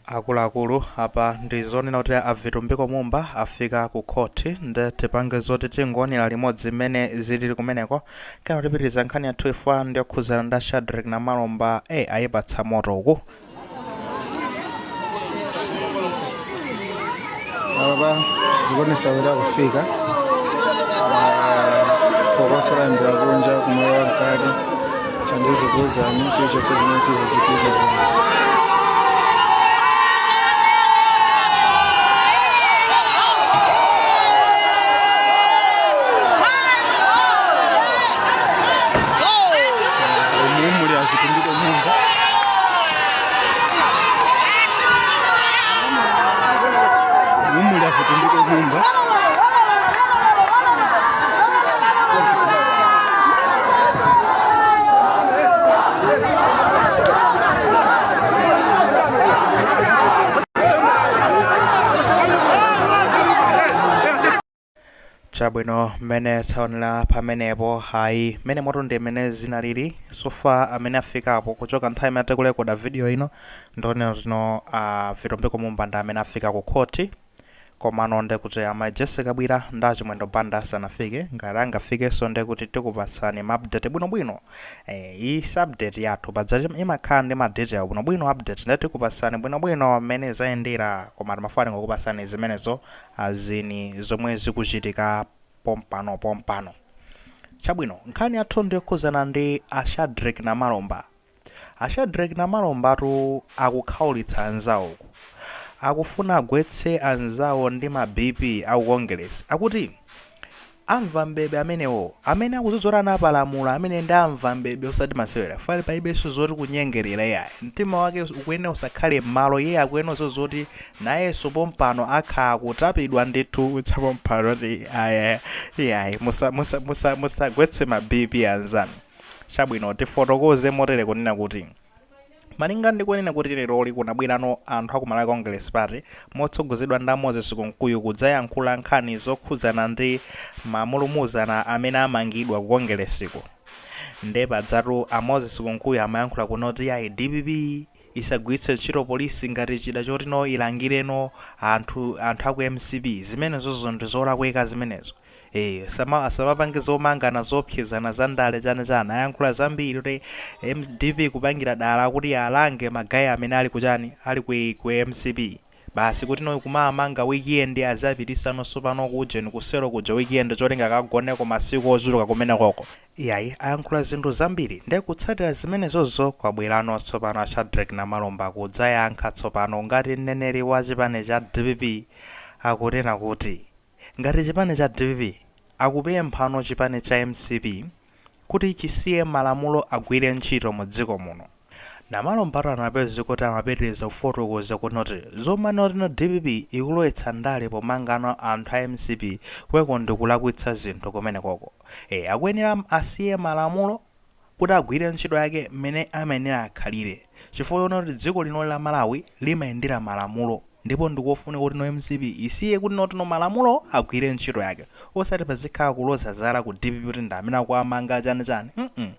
akuluakulu apa ndi zonena kuti a vitumbiko mumba afika ku khoti nde tipange zoti tingoonera limodzi mmene zilili kumeneko kenako tipitiriza nkhani yathu ife ndi yokhuzana nda shadreck namalomba e ayipatsa moto uku apapa zikuonesa kuti akufika phokoso layambira kunja kuno koma mkati ndizikuuzani chilichonse chimene chizichitika umuli afutundika nyumba Chabwino, mmene taonera pamenepo, ayi, mmene moto ndi mmene zinaliri, so far amene afikapo kuchoka nthawi imene tikurekoda video ino ndi zonena kuti no a Vitumbiko Mumba ndi amene afika ku court, komano nde kuti a mai Jessie Kabwira ndi a Chimwendo Banda sanafike, ngati angafikenso nde kuti tikupatsani ma update bwinobwino, eh, iyi si update yathu, paja imakhala ndi ma detail bwinobwino update nde tikupatsani bwinobwino mmene zayendera, koma timafuna tingokupatsani zimenezo As in zomwe zikuchitika pompano pompano. Chabwino nkhani yathu ndiyokhudzana ndi a Shadreck Namalomba. A Shadreck Namalombatu akukhaulitsa anzawo uku. Akufuna agwetse anzawo ndi ma BP aku Kongeresi. Akuti Amva m'bebe amenewo. Amene akudziwa zoti anapalamula ameneyo nde amve m'bebe osati masewera fware palibenso zoti kunyengelera iyayi mtima wake ukuyenera usakhale m'malo iyeyo akuyenera kuziwa zoti nayenso pompano akhala akutapidwa ndithu cha pompano ati aya iyayi musa musa musa musagwetse ma BP anzanu chabwino tifotokoze motere kunena kuti Malinga ndi kunena kuti leroli kunabwerano anthu a ku Malawi Congress Party motsogozedwa nda Moses Kunkuyu kudzayankhula nkhani zokhudzana ndi ma mulumuzana amene amangidwa ku Kongeresiku. Nde padzatu a Moses Kunkuyu amayankhula kunena kuti yayi dpp isagwiritse ntchito polisi ngati chida choti no ilangire no anthu anthu a ku mcp. Zimenezozo ndi zolakwika zimenezo. ee asama asamapange zomangana zoopsezana za ndale chani chani ayankhula zambiri kuti dpp ikupangira dala kuti alange ma guy amene ali ku chani ali ku ku mcp basi kuti no kumamanga weekend azapitisano tsopano ku ujeni ku selo kuja weekend cholinga akagoneko masiku ochuluka kumenekoko iyayi ayankhula zinthu zambiri nde kutsatira zimenezozo kwabwerano tsopano a shadreck namalomba kudzayankha tsopano ngati mneneri wa chipani cha dpp akunena kuti. Ngati chipani cha dpp akupemphano chipani cha mcp kuti chisiye malamulo agwire ntchito mu dziko muno. Namalombatu anapezeka kuti amapitiliza kufotokoza kunoti zomanena kuti dpp ikulowetsa ndale pomanga no anthu a mcp kumeneko ndikulakwitsa zinthu kumenekoko. Eee akuyenera asiye malamulo kuti agwire ntchito yake mmene amayenera akhalire chifukwa choona kuti dziko linoli la Malawi limayendera malamulo ndipo ndikofunika kuti no mcp isiye kunoti no malamulo agwire ntchito yake osati pazikhala kuloza zala ku dpp kuti ndi amene akuwamanga chani chani mm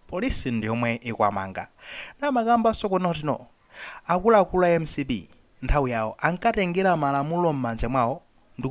police ndiyomwe ikuwamanga amakambanso kunoti no Akuluakulu a mcp nthawi yawo ankatengera malamulo mmanja mwawo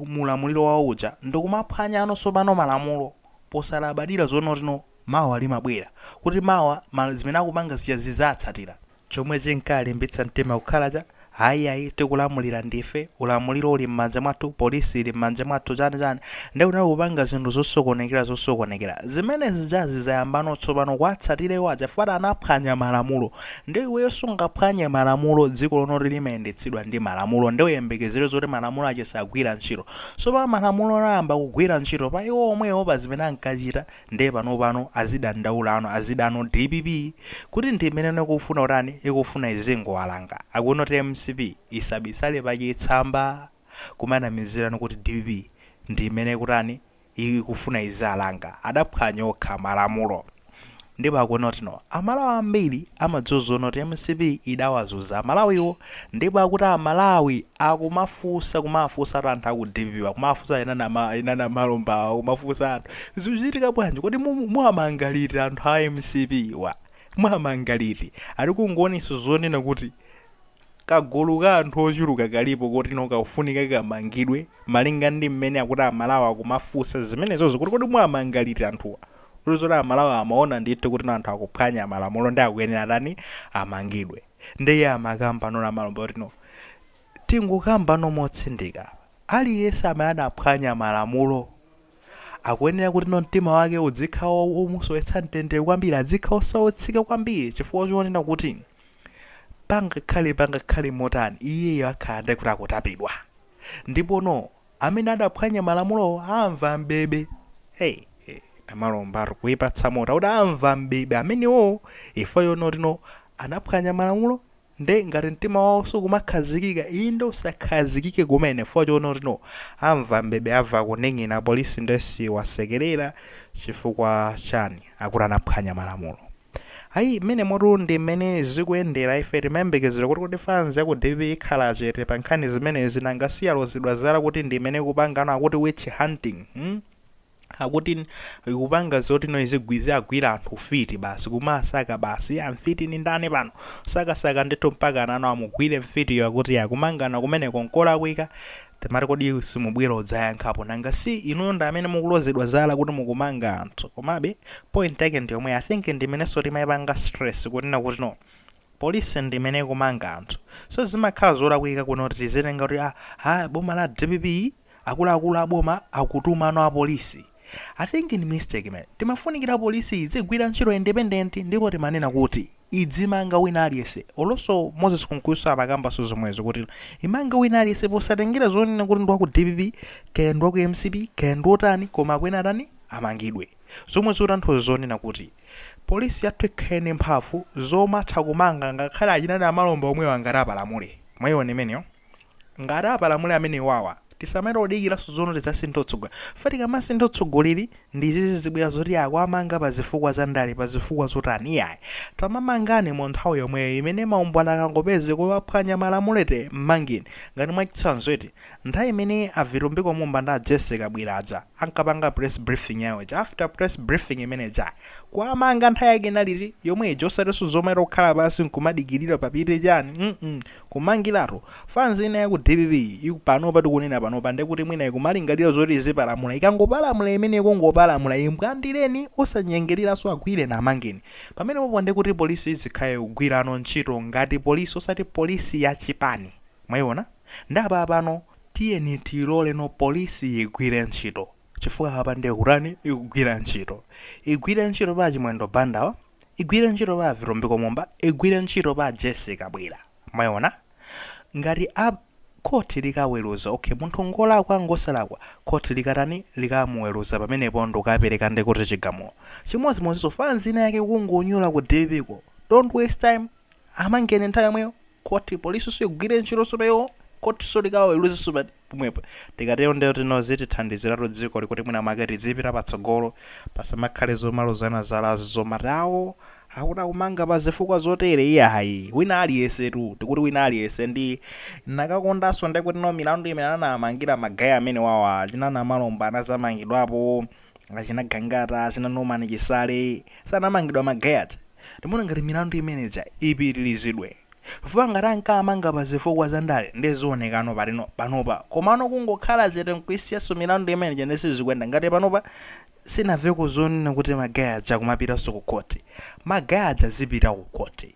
mu ulamuliro wawo uja ndikumaphwanyano tsopano malamulo posalabadira zonoti no mawa limabwera kuti mawa zimene akupanga zija zidzawatsatira. Chomwe chinkalimbitsa mtima kukhala cha ayi ayi tikulamulira ndife, ulamuliro uli mmanja mwathu, police ili mmanja mwathu chani chani ndi kuti kupanga zinthu zosokonekera zosokonekera. Zimene zijazi zayambano tsopano kuwatsatira iwo aja chifukwa anaphwanya malamulo. Nde iweyo sungaphwanye malamulo dziko linoli limayendetsedwa ndi malamulo nde uyembekezere zoti malamulo aja sagwira ntchito. Tsopano malamulo ayamba kugwira ntchito pa iwo omwewo pa zimene ankachita nde panopano azidandaula no azida no dpp kuti ndi imene ikufuna kutani ikufuna izingowalanga akunoti mcp isabisale pa chitsamba kumanamizirano kuti dpp ndi imene ikutani ikufuna iziwalanga adaphwanya okha malamulo ndipo akunoti no amalawi ambiri amadziwa zoona kuti mcp idawazunza amalawiwo ndipo akuti amalawi akumafunsa kumafunsatu anthu aku dpp akumafunsa ena a namalombawa akumafunsa anthu zikuchitika bwanji kodi mumu muwamanga liti anthu a mcp wa muwamanga liti ali kungoonetsa zonena kuti kagulu ka anthu ochuluka kalipo kotino kakufunika kamangidwe malinga ndi mmene akuti amalawi akumafunsa zimenezozo kuti kodi muwamanga liti anthuwa kusonyeza zoti amalawi amaona ndithu kutino anthu akuphwanya malamulo nde akuyenera atani amangidwe nde iye amakamba no namalomba kuti no tingokamba no motsindika apa aliyense amene anaphwanya malamulo akuyenera kutino mtima wake udzikhala womusowetsa mtendere kwambiri adzikhala osautsika kwambiri chifukwa chonena kuti Pangakhale, pangakhale motani, iyeyo akhala ndithu kuti akutapidwa. Ndipono, amene adaphwanya malamulowo amva m'bebe. Hey, hey, namalombatu kuipatsa moto, akuti amva m'bebe amenewowo, chifukwa choona kutino anaphwanya malamulo, nde ngati mtima wawo sukumakhazikika, inde usakhazikike kumene, chifukwa choona kutino amva m'bebe, amva kuning'ina, polisi nde siwasekelera, chifukwa cha akuti anaphwanya malamulo ayi mmenemotu ndi mmene zikuyendera ife timayembekezera kuti kuti fans ya ku dpp ikhala chete pa nkhani zimenezi nanga siyalozedwa zala kuti ndi imene ikupangano akuti witch hunting hmm? akuti n- ikupanga zoti no izigwize agwira anthu fiti basi kumasaka basi amfiti ni ndani pano sakasaka ndithu mpaka anano amugwire mfitiyo akuti kumangana kumeneko nkolakwika Timati kodi simubwera udzayankhapo? Nanga si inuyo ndi amene mukulozedwa zala kuti mukumanga anthu? Komabe point yake ndi yomweyo. I think ndi imenenso timaipanga stress kunena kuti no. Police ndi imene ikumanga anthu. So zimakhala zolakwika kuno kuti tizitenga kuti ah, ha boma la dpp, akuluakulu a boma akutumano apolisi. I think ndi mistake man. Timafunikira police idzigwira ntchito ya independent ndipo timanena kuti idzimanga wina aliyense olo so Moses Kunkuyu amakambanso zomwezo kuti imange wina aliyense posatengera zonena kuti ndi wa ku dpp kaya ndi wa ku mcp kaya ndi otani koma akuyenera atani amangidwe zomwe zikutanthauza zonena kuti police yathu ikhale ndi mphamvu zomatha kumanga ngakhale achina Namalomba omwewa ngati apalamule. Mwayiona imeneyo? Ngati apalamule amenewawa tisamayere kudikilaso zonena tizasinthe otsogoleli chifukwa tikamasintha otsogoleli ndiye izizi zibwera zoti akuwamanga pazifukwa zandale pazifukwa zotani iyayi tamamangani munthawi yomweyo imene maumboni akangopezeka kuti waphwanya malamulo eti mmangeni ngati mwachitsanzo eti nthawi imene a vitumbiko mumba ndi a jessie kabwila aja ankapanga press briefing yawo ija after press briefing imene ija kuwamanga nthawi yake inali iti yomwe ija osatiso zomayera kukhala pansi nkumadikilira papite chani mm Kumangiratu fans ina ya ku dpp-yi panopa tikunena panopa ndekuti mwina ikumalingalira zoti izipalamula, ikangopalamula imeneyo kungopalamula imbwandileni osanyengereranso agwireni amangeni pamenepopo ndekuti police izikhala ikugwirano ntchito ngati police osati police ya chipani mwayiona nde apapano tiyeni tiyilore no police yigwire ntchito. chifukwa apa ndiye kutani ikugwira ntchito igwire ntchito pa chimwendo banda-wa igwire ntchito pa vitumbiko mumba igwire ntchito pa jessie kabwila mwayiona ngati khoti likaweruza okay munthu ngolakwa ngosalakwa khoti likatani likamuweruza pamenepo ndikukapereka ndi kuti chigamulo chimodzimodziso fans ina ya kukungonyula ku dpp-ko don't waste time amangeni nthawi yomweyo kuti polisiso igwire ntchito so imeneyo khotiso likawaweruzeso papomwepo tikatero ndiye kuti no zitithandiziratu dzikoli kuti mwina mwake tizipita patsogolo pasamakhale zomalozana zalazi zomati awo akuti akumanga pa zifukwa zotere iyayi wina aliyense tu tikuti wina aliyense ndinakakondanso ndi kuti no milandu imene anamangira magayi amene wawa achina namalomba anazamangidwapo achina gangata achina norman chisale so anamangidwa magayi aja Ndimaona ngati milandu imene ija ipitilizidwe chifukwa ngati ankamanga pa zifukwa za ndale ndiye zionekeno patino panopa komano kungokhala chete nkuisiyanso milandu imene ija ndiye sizikuenda ngati panopa sinaveko zonena kuti ma guy aja akumapitanso ku court ma guy aja zipita ku court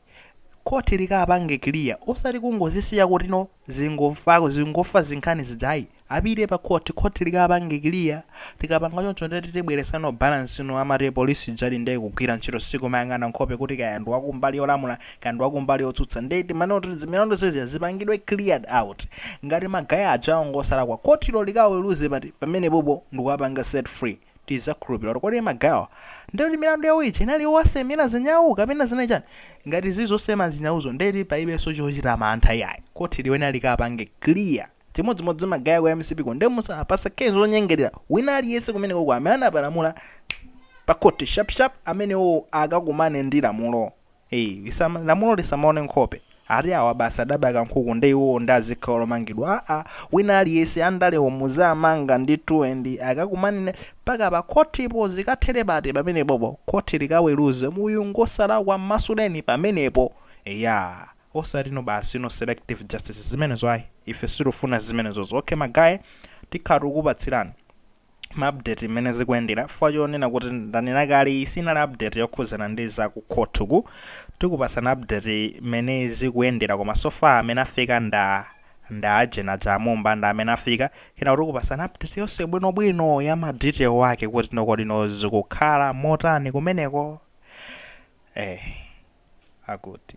court likapange clear osati kungozisiya kutino zingofako zingofa zinkhani zija ayi Apite pa court, court likawapange clear, tikapanga choncho ndiye kuti tibweresano balance, no amati police ijadi ndiye ikugwira ntchito sikumayang'ana nkhope kuti kaya ndi wakumbali yolamula kaya ndi wakumbali yotsutsa ndiye timanena kuti zimilandu zija zipangidwe cleared out ngati ma guy ajawo ngosalakwa courtlo likawaweruze pati pamenepopo ndikuwapanga set free tizakhulupilira kuti kodi ma guy-wa ndiye kuti milandu yawo ija inali yowasemera zinyau kapena zinali chani ngati zili zosema zinyauzo ndiye kuti palibenso chochita mantha iyayi court liyenera likawapange clear Chimodzimodzi ma guy aku MCP ko nde musawapase case zonyengelera wina aliyese kumenekoko amene anapalamula pa court sharp sharp amenewowo akakumane ndi lamulo ee lisama lamulo lisamaone nkhope ati awa basi adaba kankhuku nde iwowo nde azikhala omangidwa aa wina aliyese andalewo muzamanga ndithu akakumane mpaka pa court po zikathele pati pamenepopo court likaweluze uyu ngosalakwa mmasuleni pamenepo eyaa. osati no basi no selective justice zimenezo ayi ife sitifuna zimenezozo ok ma guy tikhala tikukupatsirani ma update mmene zikuyendera chifukwa chonena kuti ndanena kale iyi sinali update yokhuzana ndi za ku court uku tikupasana update mmene zikuyendera koma so far amene afika nda nda agent aja a Mumba nda amene afika kenako tikupasana update yonse bwinobwino ya ma detail ake kutino kodino zikukhala motani kumeneko eh akuti